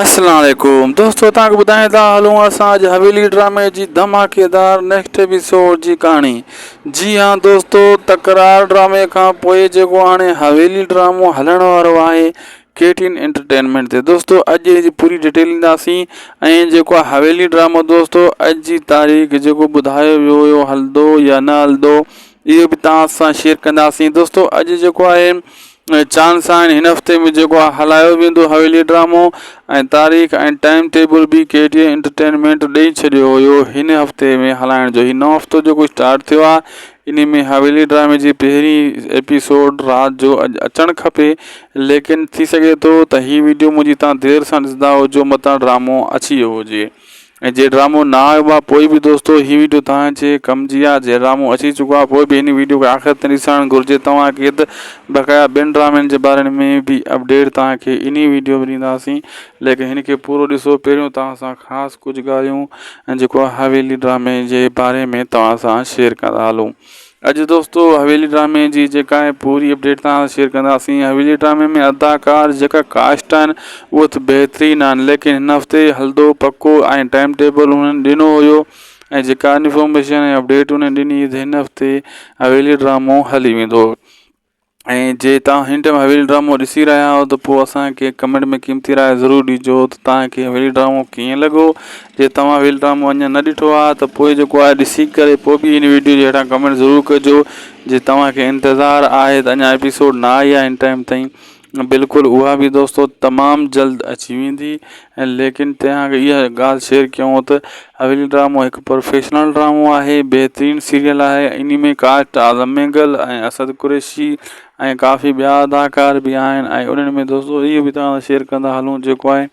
اسلام عليڪم دوستو توهان کي ٻڌائين ٿا هلون اسان اڄ حويلي ڊرامي جي ڌماڪيدار نيڪسٽ ايپيسوڊ جي ڪهاڻي جي ها دوستو تڪرار ڊرامي کان پوء جيڪو هاڻي حويلي ڊرامو هلڻ وارو آهي ڪي ٽي ان انٽرٽينمينٽ تي دوستو اڄ ان جي پوري ڊيٽيل ڏينداسين ۽ جيڪو آهي حويلي ڊرامو دوستو اڄ جي تاريخ جيڪو ٻڌايو ويو هيو هلندو يا نه هلندو اهو به توهان سان شيئر ڪنداسين دوستو اڄ جيڪو آهي چانھن ساڻ ھن ھفتي ۾ جيڪو ھلايو ويندو حويلي ڊرامو ۽ تاريخ ۽ ٽائيم ٽيبل به ڪي ٽي انٽرٽينمينٽ ڏئي ڇڏيو ھيو ھن ھفتي ۾ ھلائڻ جو ھي نئون ھفتو جيڪو اسٽارٽ ٿيو آ انھي ۾ حويلي ڊرامي جي پھرين ايپيسوڊ رات جو اڄ اچڻ کپي ليڪن ٿي سگھي ٿو ته ھي ويڊيو منھنجي تھان دير سان ڏسندا ھجو متان ڊرامو اچي ويو ھجي ۽ جي ڊرامو نه آيو آ پوء به دوستو هي ويڊيو توهان جي ڪم جي آ جي ڊرامو اچي چڪو آ پوء به هن ويڊيو کي آخر تائين ڏسڻ گهرجي توهان کي ته بقايا ٻين ڊرامن جي باري ۾ به اپڊيٽ توهان کي انهي ويڊيو ۾ ڏينداسين ليڪن هن کي پورو ڏسو پهريون توهان سان خاص ڪجهه ڳالهيون جيڪو حويلي ڊرامي جي باري ۾ توهان سان شيئر ڪندا هلون اڄ دوستو حويلي ڊرامي جي جيڪا آهي پوري اپڊيٽ توهان سان شيئر ڪنداسين حويلي ڊرامي ۾ اداڪار جيڪا ڪاسٽ آهن اهو ته بهترين آهن ليڪن هن هفتي هلدو پڪو ۽ ٽائيم ٽيبل هنن ڏنو هيو ۽ جيڪا انفارميشن ۽ اپڊيٽ هنن ڏني هن هفتي حويلي ڊرامو هلي ويندو ۽ جي توهان هن ٽائيم حويلي ڊرامو ڏسي رهيا آهيو ته پوء اسانکي ڪمينٽ ۾ قيمتي راء ضرور ڏجو ته توهانکي حويلي ڊرامو ڪيئن لڳو جي توهان حويلي ڊرامو اڃان نه ڏٺو آهي ته پوء جيڪو آهي ڏسي ڪري پوء به هن ويڊيو جي هيٺان ڪمينٽ ضرور ڪجو جي توهانکي انتظار آهي ته اڃان ايپيسوڊ نه آئي آهي هن ٽائيم تائين بلڪل اها به دوستو تمام جلد اچي ويندي ۽ ليڪن تنهن اڳ اها ڳالهه شيئر ڪيون ته حويلي ڊرامو هڪ پروفيشنل ڊرامو آهي بهترين سيريل آهي انهي ۾ ڪاسٽ اعظم مينگل ۽ اسد قريشي ۽ ڪافي ٻيا اداڪار به آهن ۽ انهن ۾ دوستو اهي به تهان سان شيئر ڪندا هلون جيڪو آهي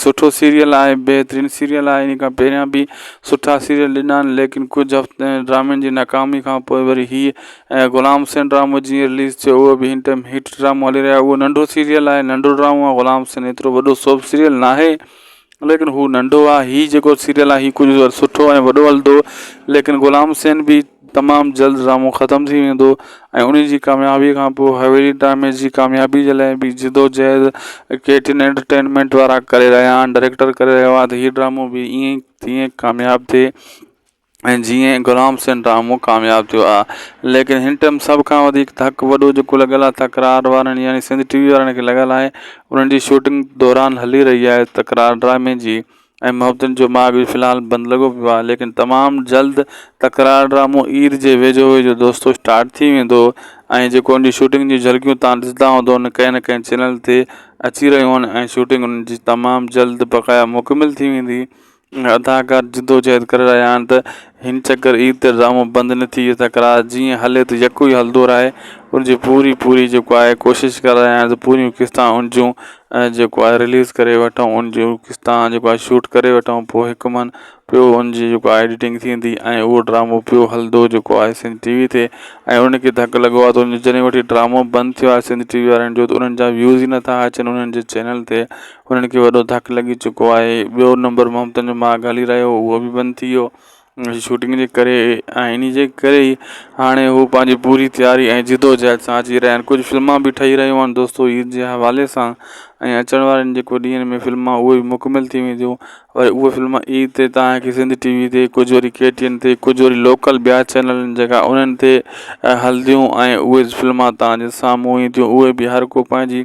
سٺو سيريل آهي بهترين سيريل آهي ان کان پهريان به سٺا سيريل ڏنا آهن ليڪن ڪجهه هفته ڊرامن جي ناڪامي کان پوء وري هي ۽ غلام حسين ڊرامو جيئن رليز ٿيو هو به هن ٽائيم هٽ ڊرامو هلي رهيا هو ننڍو سيريل آهي ننڍو ڊرامو آهي غلام حسين ايترو وڏو سوڀ سيريل نه آهي ليڪن هو ننڍو آهي هي جيڪو سيريل آهي هي ڪجهه سٺو ۽ وڏو هلندو ليڪن غلام حسين به تمام جلد ڊرامو ختم ٿي ويندو ۽ انهي جي ڪاميابي کان پوء حويلي ڊرامي جي ڪاميابي جي لاء به جدوجهد ڪي ٽي اين انٽرٽينمينٽ وارا ڪري رهيا آهن ڊائريڪٽر ڪري رهيو آهي ته هي ڊرامو به ائين ئي تيئن ڪامياب ٿئي ۽ جيئن غلام حسين ڊرامو ڪامياب ٿيو آهي ليڪن هن ٽائيم سڀ کان وڌيڪ ڌڪ وڏو جيڪو لڳل آهي تڪرار وارن يعني سنڌ ٽي وي وارن کي لڳل آهي انهن جي شوٽنگ دوران هلي رهي آهي تڪرار ڊرامي جي ۽ محبتن جو ماڳ به في الحال بند لڳو پيو آهي ليڪن تمام جلد تڪرار ڊرامو عيد جي ويجهو ويجهو دوستو اسٽارٽ ٿي ويندو ۽ جيڪو ان جي شوٽنگ جون جهلڪيون تان ڏسندا هوندون ڪنهن نه ڪنهن چينل تي اچي رهيون آهن ۽ شوٽنگ ان جي تمام جلد بقايا مڪمل ٿي ويندي اداڪار جدوجهد ڪري رهيا آهن ته هن چڪر عيد تي ڊرامو بند نه ٿي اٿا ڪرا جيئن هلي ته يڪو ئي هلدو رهي ان جي پوري پوري جيڪو آهي ڪوشش ڪرا رهيا آهيون ته پوريون قسطان ان جون جيڪو آهي رليز ڪري وٺون ان جون قسطان جيڪو آهي شوٽ ڪري وٺون پوء هڪ من پيو ان جي جيڪو آهي ايڊيٽنگ ٿيندي ۽ اهو ڊرامو پيو هلدو جيڪو آهي سنڌ ٽي وي تي ۽ ان کي ڌڪ لڳو آهي ته جڏهن وٺي ڊرامو بند ٿيو آهي سنڌ ٽي وي وارن جو ته انهن جا ويوز ئي نٿا اچن انهن جي چينل تي انهن کي وڏو ڌڪ لڳي چڪو آهي ٻيو نمبر ممتن جو ماڳ هلي رهيو هو اهو بي بند ٿي ويو انهي شوٽنگ جي ڪري ۽ انهي جي ڪري ئي هاڻي هو پنهنجي پوري تياري ۽ جدوجهد سان اچي رهيا آهن ڪجهه فلما به ٺهي رهيون آهن دوستو عيد جي حوالي سان ۽ اچڻ وارن جيڪو ڏينهن ۾ فلما اهي بي مڪمل ٿي وينديون ۽ اهي فلما عيد تي تهانکي سنڌ ٽي وي تي ڪجهه وري ڪي ٽي اين تي ڪجهه وري لوڪل ٻيا چينل جيڪا انهن تي هلنديون ۽ اهي فلما تهانجي سامهون اينديون اهي به هر ڪو پنهنجي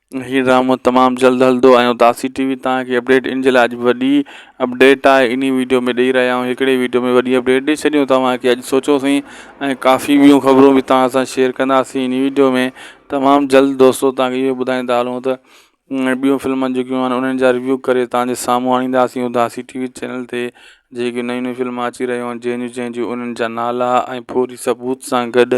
هي ڊرامو تمام جلد هلدو ۽ اداسي ٽي وي تان هڪ اپڊيٽ ان جي لاء اڄ وڏي اپڊيٽ آهي انهي ويڊيو ۾ ڏئي رهيا آهيون هڪڙي ويڊيو ۾ وڏي اپڊيٽ ڏئي ڇڏيون توهان کي اڄ سوچو سين ۽ ڪافي ٻيون خبرون به توهان سان شيئر ڪنداسين انهي ويڊيو ۾ تمام جلد دوستو توهان کي اهو ٻڌائيندا هلون ته ٻيون فلمن جيڪيون آهن انهن جا ريويو ڪري توهان جي سامهون آڻينداسين اداسي ٽي وي چينل تي جيڪي نيون نيون فلمون اچي رهيون آهن جنهن جون جنهن جون انهن جا نالا ۽ پوري ثبوت سان گڏ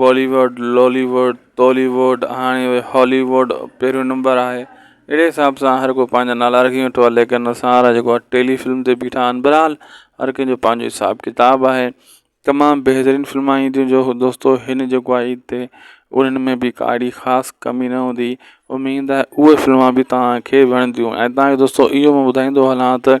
بالي wood, Lollywood, Tollywood هاڻي اهي هالي ووڊ پهريون نمبر آهي اهڙي حساب سان هر ڪو پنهنجا نالا رکي ويٺو آهي ليڪن اسان وارا جيڪو آهي ٽيلي فلم تي بيٺا آهن بهرحال هر ڪنهن جو پنهنجو حساب ڪتاب آهي تمام بهترين فلمان عيديون جو دوستو هن جيڪو آهي عيد تي انهن ۾ به ڪا اهڙي خاص ڪمي نه هوندي اميد آهي اهي فلمان به تهانکي وڻنديون ۽ تهانکي دوستو اهو ٻڌائيندو هلان ته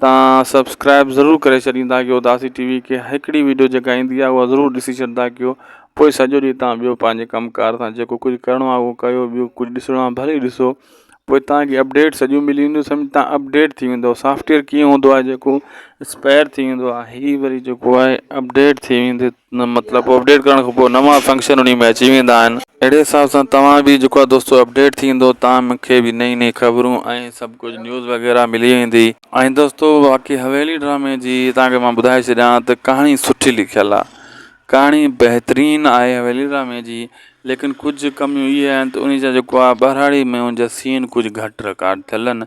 تان سبسڪرائب ضرور ڪري ڇڏيندا ڪيو داسي ٽي وي کي ھڪڙي ويڊيو جيڪا ايندي آ اھا ضرور ڏسي ڇڏدا ڪيو پوء سڄو ڏينھن تان ٻيو پنھنجي ڪم ڪار سان جيڪو ڪجھ ڪرڻو آ اھو ڪيو ٻيو ڪجھ ڏسڻو آ ڀلي ڏسو پوء تان کي اپڊيٽ سڄيون ملي وينديون سمجھ تان اپڊيٽ ٿي ويندو سافٽويئر ڪيئن ھوندو آ جيڪو اسپائر ٿي ويندو آ ھي وري جيڪو آ اپڊيٽ ٿي ويندي مطلب اپڊيٽ ڪرڻ کان پوء نوان فنڪشن انهي ۾ اچي ويندا آهن اهڙي حساب سان توهان به جيڪو آهي دوستو اپڊيٽ ٿيندو توهان کي به نئين نئين خبرون ۽ سڀ ڪجهه نيوز وغيره ملي ويندي. ۽ دوستو باقي حويلي ڊرامي جي توهان کي مان ٻڌائي ڇڏيان ته ڪهاڻي سٺي لکيل آهي ڪهاڻي بهترين آهي حويلي ڊرامي جي ليڪن ڪجهه ڪميون اهي آهن ته انهي جا جيڪو آهي ٻهراڙي ۾ ان جا سين ڪجهه گهٽ رڪارڊ ٿيل آهن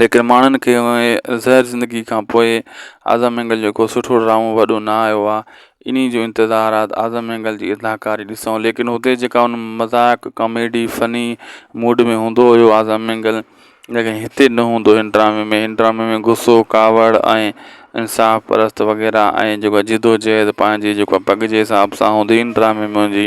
ليڪن ماڻهن کي انهيء زهر زندگيء کان پوء اعظم مينگل جو ڪو سٺو ڊرامو وڏو نه آيو آ. انهيء جو انتظار آ ته اعظم مينگل جي اداڪاري ڏسون. ليڪن هتي جيڪا ان مذاق، ڪاميڊي، فني موڊ ۾ هوندو هيو اعظم مينگل، ليڪن هتي نه هوندو هن ڊرامي ۾. هن ڊرامي ۾ غصو، ڪاوڙ ۽ انصاف پرست وغيره ۽ جيڪو جدوجهد پنهنجي جيڪو پڳ جي حساب سان هوندي ان ڊرامي ۾ هوندي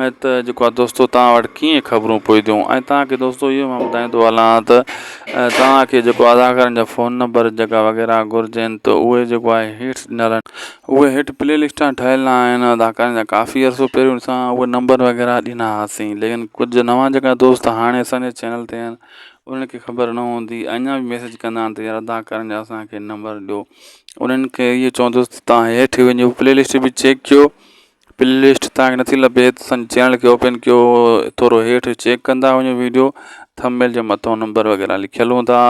۽ ته جيڪو آهي دوستو توهان وٽ ڪيئن خبرون پهتيون ۽ توهان کي دوستو اهو مان ٻڌائيندو هلان ته توهان کي جيڪو اداڪارن جا فون نمبر جيڪا وغيره گهرجن ته اهي جيڪو آهي هيٺ ڏنل آهن اهي هيٺ پلي لسٽان ٺهيل آهن اداڪارن جا ڪافي عرصو پهريون اسان اهي نمبر وغيره ڏنا هئاسين ليڪن ڪجهه نوان جيڪا دوست هاڻي اسانجي چينل تي آهن انهن کي خبر نه هوندي اڃا بي ميسج ڪندا آهن ته يار اداڪارن جا اسانکي نمبر ڏيو انهن کي اهي چوندوس ته توهان هيٺ وڃو پلي لسٽ بي چيڪ ڪيو پلي لسٽ تانکي نٿي لڀي ته اسان چينل کي اوپن ڪيو ٿورو هيٺ چيڪ ڪندا وڃو ويڊيو ٿم ميل جي مٿو نمبر وغيره لکيل هوندا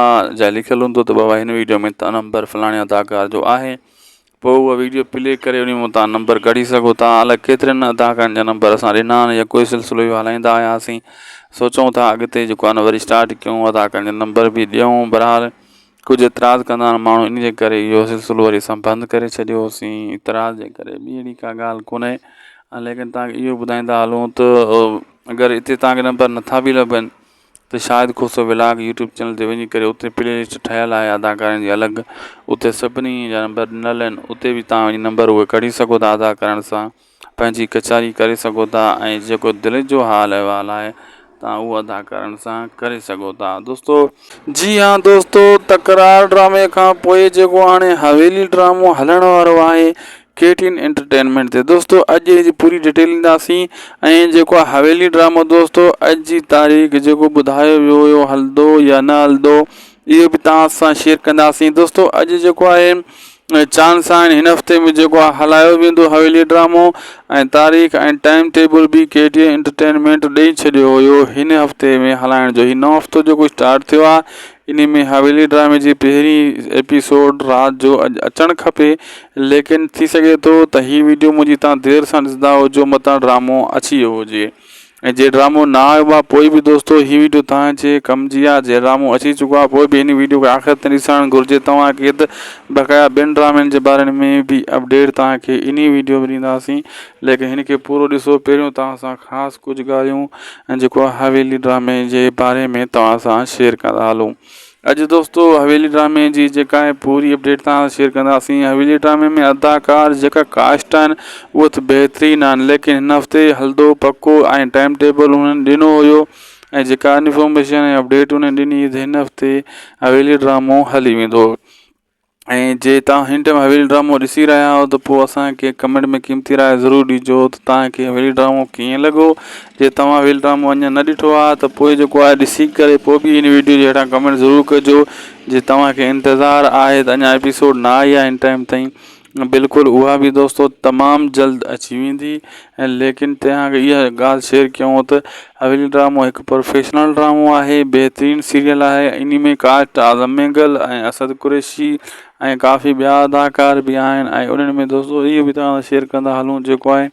جا لکيل هوندو ته بابا هن ويڊيو ۾ ته نمبر فلاڻي اداڪار جو آهي پوء اها ويڊيو پلي ڪري انهي مون تان نمبر ڪڍي سگهو ٿا الاء ڪيترن اداڪارن جا نمبر اسان ڏنا آهن يا ڪوئي سلسلو اهو هلائيندا آياسين سوچون ٿا اڳتي جيڪو آهي نه وري اسٽارٽ ڪيون اداڪارن جا نمبر به ڏيون برحال ڪجهه اعتراض ڪندڙ ماڻهو انهي جي ڪري اهو سلسلو وري اسان بند ڪري ڇڏيو هوسين اعتراض جي ڪري ٻي اهڙي ڪا ڳالهه ڪونهي ليڪن توهان کي اهو ٻڌائيندا هلون ته اگر اتي توهان کي نمبر نٿا به لڀن ته Shahid Khoso vlog YouTube channel تي وڃي ڪري اتي پلي لسٽ ٺهيل آهي اداڪارن جي الڳ اتي سڀني جا نمبر ڏنل آهن اتي به توهان وڃي نمبر اهي ڪڍي سگهو ٿا ادا ڪرڻ سان پنهنجي ڪچهري ڪري سگهو ٿا ۽ جيڪو دل جو حال احوال آهي توهان اهو ادا ڪرڻ سان ڪري سگهو ٿا دوستو. جي ها دوستو تڪرار ڊرامي کان پوء جيڪو هاڻي حويلي ڊرامو هلڻ وارو آهي ڪي ٽي اين انٽرٽينمينٽ تي دوستو اڄ ان جي پوري ڊيٽيل ڏينداسين ۽ جيڪو آهي حويلي ڊرامو دوستو اڄ جي تاريخ جيڪو ٻڌايو ويو هيو هلندو يا نه هلندو اهو به توهان سان شيئر ڪنداسين دوستو اڄ جيڪو آهي چانس سائين هن هفتي ۾ جيڪو هلايو ويندو حويلي ڊرامو ۽ تاريخ ۽ ٽائيم ٽيبل به ڪي ڊي اي انٽرٽينمينٽ ڏئي ڇڏيو هيو هن هفتي ۾ هلائڻ جو هي نئون هفتو جيڪو اسٽارٽ ٿيو آهي ان ۾ حويلي ڊرامي جي پهرين ايپيسوڊ رات جو اڄ اچڻ کپي ليڪن ٿي سگهي ٿو ته هي ويڊيو منهنجي تان دير سان ڏسندا هجو متان ڊرامو اچي ويو هجي ۽ جي ڊرامو نه آيو با پوء به دوستو هي ويڊيو توهان جي ڪم جي آ جي ڊرامو اچي چڪو آ پوء به هن ويڊيو کي آخر تائين ڏسڻ گهرجي توهان کي ته بقايا ٻين ڊرامن جي باري ۾ به اپڊيٽ توهان کي انهي ويڊيو ۾ ڏينداسين ليڪن هن کي پورو ڏسو پهريون توهان سان خاص ڪجهه ڳالهيون جيڪو حويلي ڊرامي جي باري ۾ توهان سان شيئر ڪندا هلون اڄ دوستو حويلي ڊرامي جي جيڪا آهي پوري اپڊيٽ تان شيئر ڪنداسين حويلي ڊرامي ۾ اداڪار جيڪا ڪاسٽ آهن اهو ته بهترين آهن ليڪن هن هفتي هلدو پڪو ۽ ٽائم ٽيبل انهن ڏنو هيو ۽ جيڪا انفارميشن ۽ اپڊيٽ انهن ڏني هن هفتي حويلي ڊرامو هلي ويندو ۽ جي توهان هن ٽائيم حويلي ڊرامو ڏسي رهيا آهيو ته پوء اسانکي ڪمينٽ ۾ قيمتي راء ضرور ڏجو ته توهانکي حويلي ڊرامو ڪيئن لڳو جي توهان حويلي ڊرامو اڃان نه ڏٺو آهي ته پوء جيڪو آهي ڏسي ڪري پوء به هن ويڊيو جي هيٺان ڪمينٽ ضرور ڪجو جي توهانکي انتظار آهي ته اڃان ايپيسوڊ نه آئي آهي هن ٽائيم تائين بلڪل اها به دوستو تمام جلد اچي ويندي ۽ ليڪن تنهن اڳ اها ڳالهه شيئر ڪيون ته حويلي ڊرامو هڪ پروفيشنل ڊرامو آهي بهترين سيريل آهي انهي ۾ ڪاسٽ اعظم مينگل ۽ اسد قريشي ۽ ڪافي ٻيا اداڪار به آهن ۽ انهن ۾ دوستو اهي به تنهن سان شيئر ڪندا هلون جيڪو آهي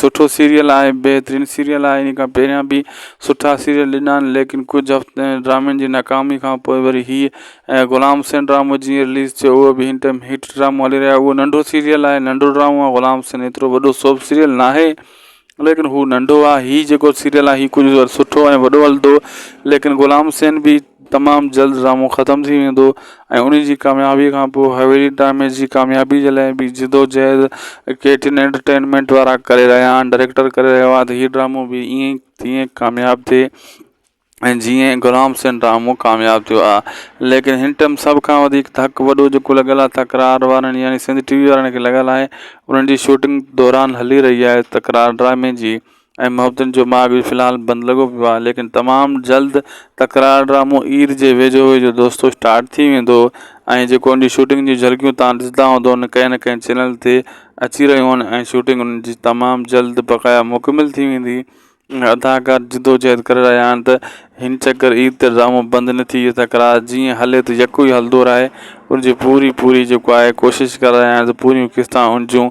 سٺو سيريل آهي بهترين سيريل آهي ان کان پهريان به سٺا سيريل ڏنا آهن ليڪن ڪجھ هفته ڊرامن جي ناڪامي کان پوء وري هي ۽ غلام حسين ڊرامو جيئن رليز ٿيو هو به هن ٽيم هٽ ڊرامو هلي رهيا اهو ننڍو سيريل آهي ننڍو ڊرامو آهي غلام حسين ايترو وڏو سوڀ سيريل ناهي ليڪن هو ننڍو آهي هي جيڪو سيريل آهي هي ڪجھ سٺو ۽ وڏو هلندو ليڪن غلام حسين به تمام جلد ڊرامو ختم ٿي ويندو ۽ انهي جي ڪاميابي کان پوء حويلي ڊرامي جي ڪاميابي جي لاء به جدوجهد ڪي ٽين انٽرٽينمينٽ وارا ڪري رهيا آهن ڊائريڪٽر ڪري رهيو آهي ته هي ڊرامو به ائين ئي تيئن ڪامياب ٿئي ۽ جيئن غلام حسين ڊرامو ڪامياب ٿيو آهي ليڪن هن ٽئم سڀ کان وڌيڪ ڌڪ وڏو جيڪو لڳل آهي تڪرار وارن يعني سنڌ ٽي وي وارن کي لڳل آهي انهن جي شوٽنگ دوران هلي رهي آهي تڪرار ڊرامي جي ۽ محبتن جو ماڳ به في الحال بند لڳو پيو آهي ليڪن تمام جلد تڪرار ڊرامو عيد جي ويجهو ويجهو دوستو اسٽارٽ ٿي ويندو ۽ جيڪو ان جي شوٽنگ جون جهلڪيون توهان ڏسندا هوندون ڪنهن نه ڪنهن چينل تي اچي رهيون آهن ۽ شوٽنگ ان جي تمام جلد بقايا مڪمل ٿي ويندي اداڪار جدوجهد ڪري رهيا آهن ته هن چڪر عيد تي ڊرامو بند نه ٿئي تڪرار جيئن هلي ته يڪو ئي هلندو رهي ان جي پوري پوري جيڪو آهي ڪوشش ڪري رهيا آهن ته پوريون قسطان ان جون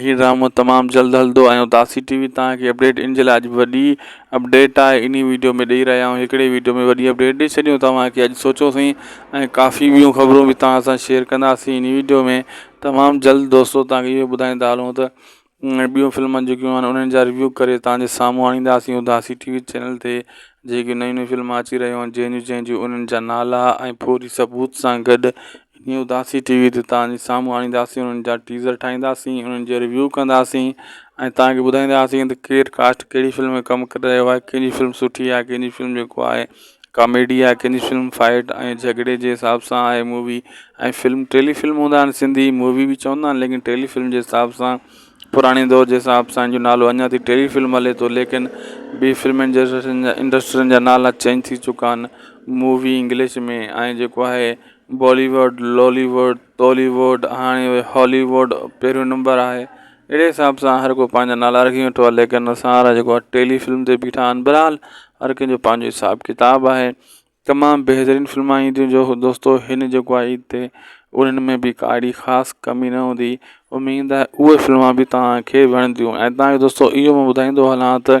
هي ڊرامو تمام جلد هلدو ۽ داسي ٽي وي تان کي اپڊيٽ ان جي لاء اڄ وڏي اپڊيٽ آهي انهي ويڊيو ۾ ڏئي رهيا آهيون هڪڙي ويڊيو ۾ وڏي اپڊيٽ ڏئي ڇڏيون توهان کي اڄ سوچو سهي ۽ ڪافي ٻيون خبرون به توهان سان شيئر ڪنداسي انهي ويڊيو ۾ تمام جلد دوستو توهان کي اهو ٻڌائيندا هلون ته ٻيون فلمن جيڪيون آهن انهن جا ريويو ڪري توهان جي سامهون آڻينداسي داسي ٽي وي چينل تي جيڪي نيون نيون فلمون اچي رهيون آهن جنهن جون جنهن جون انهن جا نالا ۽ پوري ثبوت سان گڏ نيو داسي ٽي وي تي توهان جي سامهون آڻينداسين انهن جا ٽيزر ٺاهينداسين انهن جو ريويو ڪنداسين ۽ توهان کي ٻڌائينداسين ته ڪير ڪاسٽ ڪهڙي فلم ۾ ڪم ڪري رهيو آهي ڪنهن جي فلم سٺي آهي ڪنهن جي فلم جيڪو آهي ڪاميڊي آهي ڪنهن جي فلم فائيٽ ۽ جهڳڙي جي حساب سان آهي مووي ۽ فلم ٽيلي فلم هوندا آهن سنڌي مووي به چوندا آهن ليڪن ٽيلي فلم جي حساب سان پراڻي دور جي حساب سان جو نالو اڃا تائين ٽيلي فلم هلي ٿو ليڪن ٻي فلم انڊسٽرين جا نالا چينج ٿي چڪا آهن مووي انگلش ۾ ۽ جيڪو آهي Bollywood, Lollywood, Tollywood هاڻي اهي هولي ووڊ پهريون نمبر آهي اهڙي حساب سان هر ڪو پنهنجا نالا رکي ويٺو آهي ليڪن اسان وارا جيڪو آهي ٽيلي فلم تي بيٺا آهن بهرحال هر ڪنهن جو پنهنجو حساب ڪتاب آهي تمام بهترين فلمان اينديون جو دوستو هن جيڪو آهي عيد تي انهن ۾ به ڪا اهڙي خاص ڪمي نه هوندي اميد آهي اهي فلمان به تهانکي وڻنديون ۽ تهانکي دوستو اهو ٻڌائيندو هلان ته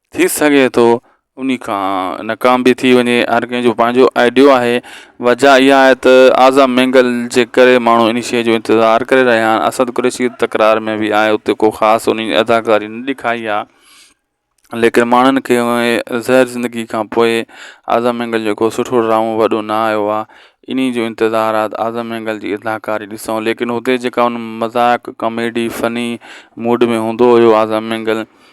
ٿي سگهي ٿو انهي کان ناڪام به ٿي وڃي هر ڪنهن جو پنهنجو آئيڊيو آهي وجهه اها آهي ته آزا مينگل جي ڪري ماڻهو انهي شئي جو انتظار ڪري رهيا آهن اسد قريشي تڪرار ۾ به آهي اتي ڪو خاص انهي جي اداڪاري نه ڏيکاري آهي ليڪن ماڻهن کي زهر زندگي کان پوء آزا مينگل جو ڪو سٺو ڊرامو وڏو نه آيو آهي انهي جو انتظار آهي ته آزا مينگل جي اداڪاري ڏسون ليڪن هتي جيڪا ان مذاق ڪاميڊي فني موڊ ۾ هوندو هيو آزا مينگل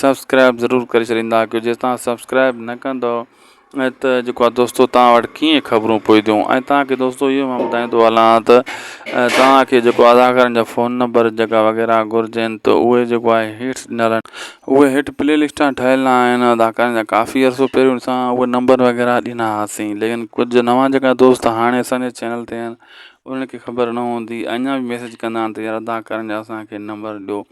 سبسڪرائب ضرور ڪري ڇڏيندا ڪيو جي تان سبسڪرائب نه ڪندو ۽ ته جيڪو آ دوستو تان وٽ ڪيئن خبرون پوينديون ۽ تان کي دوستو اهو مان ٻڌائيندو هلان ته تان کي جيڪو اداڪارن جا فون نمبر جيڪا وغيره گهرجين ته اهي جيڪو آهي هيٺ ڏنل آهن اهي هيٺ پلي لسٽان ٺهيل آهن اداڪارن جا ڪافي عرصو پهريون اسان اهي نمبر وغيره ڏنا هئاسين ليڪن ڪجهه نوان جيڪا دوست هاڻي اسانجي چينل تي آهن انهن کي خبر نه هوندي اڃان بي ميسج ڪندا آهن ته يار اداڪارن جا اسانکي نمبر ڏيو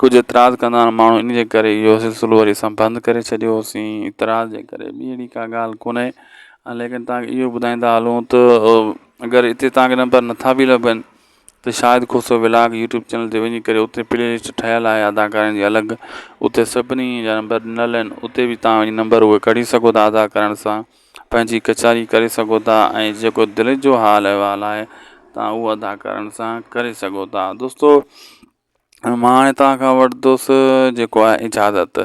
ڪجهه اعتراض ڪندڙ ماڻهو ان جي ڪري اهو سلسلو وري اسان بند ڪري ڇڏيو هوسين اعتراض جي ڪري ٻي اهڙي ڪا ڳالهه ڪونهي ۽ ليڪن تان اهو ٻڌائيندا هلون ته اگر اتي تان کي نمبر نٿا به لڀن ته Shahid Khoso vlog YouTube channel تي وڃي ڪري اتي پلي لسٽ ٺهيل آهي اداڪارن جي الڳ اتي سڀني جا نمبر ڏنل آهن اتي به تان وڃي نمبر اهي ڪڍي سگهو ٿا ادا ڪرڻ سان پنهنجي ڪچهري ڪري سگهو ٿا ۽ جيڪو دل جو حال احوال آهي تان اهو ادا ڪرڻ سان ڪري سگهو ٿا دوستو ۽ مان هاڻي توهان کان وٺندوسي جيڪو آهي اجازت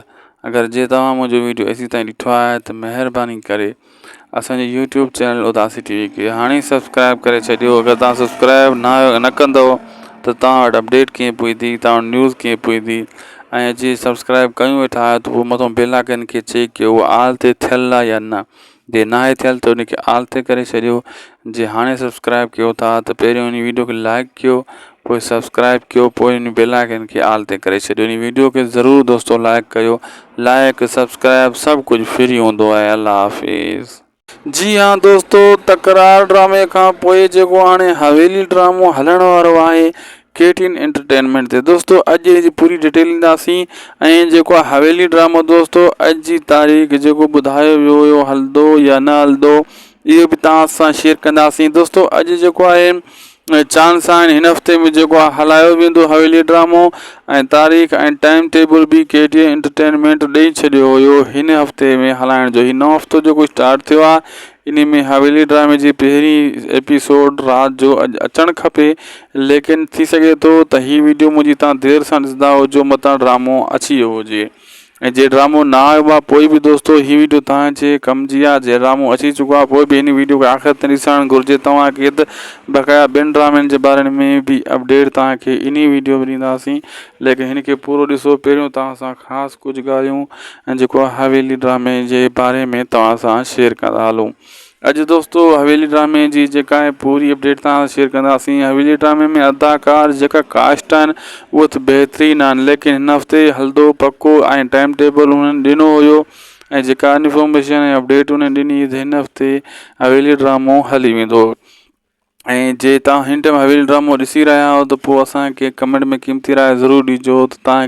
اگر جي توهان منهنجو ويڊيو ايسي تائين ڏٺو آهي ته مهرباني ڪري اسانجي يوٽيوب چينل اداسي ٽي وي کي هاڻي ئي سبسڪرائب ڪري ڇڏيو اگر توهان سبسڪرائب نه آهيو نه ڪندو ته توهان وٽ اپڊيٽ ڪيئن پوندي توهان وٽ نيوز ڪيئن پوندي ۽ جي سبسڪرائب ڪيون ويٺا آهيو ته پوء مٿو بيل آئڪن کي چيڪ ڪيو آل تي ٿيل آهي يا نه جي ناهي ٿيل ته ان کي آل تي ڪري ڇڏيو جي هاڻي سبسڪرائب ڪيو ٿا ته پهريون هن ويڊيو کي لائڪ ڪيو پوء سبسڪرائب ڪيو پوء ان بيل آئڪن کي آل تي ڪري ڇڏيو ان ويڊيو کي ضرور دوستو لائڪ ڪيو لائڪ سبسڪرائب سڀ ڪجهه فري هوندو آهي الله حافظ. جي ها دوستو تڪرار ڊرامي کان پوء جيڪو هاڻي حويلي ڊرامو هلڻ وارو آهي ڪي ٽي اين انٽرٽينمينٽ تي دوستو اڄ جي پوري ڊيٽيل ڏينداسين ۽ جيڪو آهي حويلي ڊرامو دوستو اڄ جي تاريخ جيڪو ٻڌايو ويو هيو هلندو يا نه هلندو اهو به توهان سان شيئر ڪنداسين دوستو اڄ جيڪو آهي چاند سائن هن هفتي ۾ جيڪو آهي هلايو ويندو حويلي ڊرامو ۽ تاريخ ۽ ٽائم ٽيبل به ڪي ٽي انٽرٽينمينٽ ڏئي ڇڏيو هيو هن هفتي ۾ هلائڻ جو هي نئون هفتو جيڪو اسٽارٽ ٿيو آهي انهي ۾ حويلي ڊرامي جي پهرين ايپيسوڊ رات جو اڄ اچڻ کپي ليڪن ٿي سگهي ٿو ته هي ويڊيو منهنجي تان دير سان ڏسندا هجو متان ڊرامو اچي ويو هجي ۽ جي ڊرامو نه آيو آ پوء به دوستو هي ويڊيو تان جي ڪم جي آ جي ڊرامو اچي چڪو آ پوء به هن ويڊيو کي آخر تائين ڏسڻ گهرجي توهان کي ته بقايا ٻين ڊرامن جي باري ۾ به اپڊيٽ توهان کي انهي ويڊيو ۾ ڏينداسين ليڪن هن کي پورو ڏسو پهريون توهان سان خاص ڪجهه ڳالهيون ۽ جيڪو حويلي ڊرامي جي باري ۾ توهان سان شيئر ڪندا هلون اڄ دوستو حويلي ڊرامي جي جيڪا آهي پوري اپڊيٽ توهان سان شيئر ڪنداسين حويلي ڊرامي ۾ اداڪار جيڪا ڪاسٽ آهن اهو ته بهترين آهن ليڪن هن هفتي هلدو پڪو ۽ ٽائيم ٽيبل انهن ڏنو هيو ۽ جيڪا انفارميشن ۽ اپڊيٽ انهن ڏني هن هفتي حويلي ڊرامو هلي ويندو ۽ جي تهان هن ٽيم حويلي ڊرامو ڏسي رهيا آهيو ته پوء اسان کي ڪمينٽ ۾ قيمتي راء ضرور ڏجو ته تهان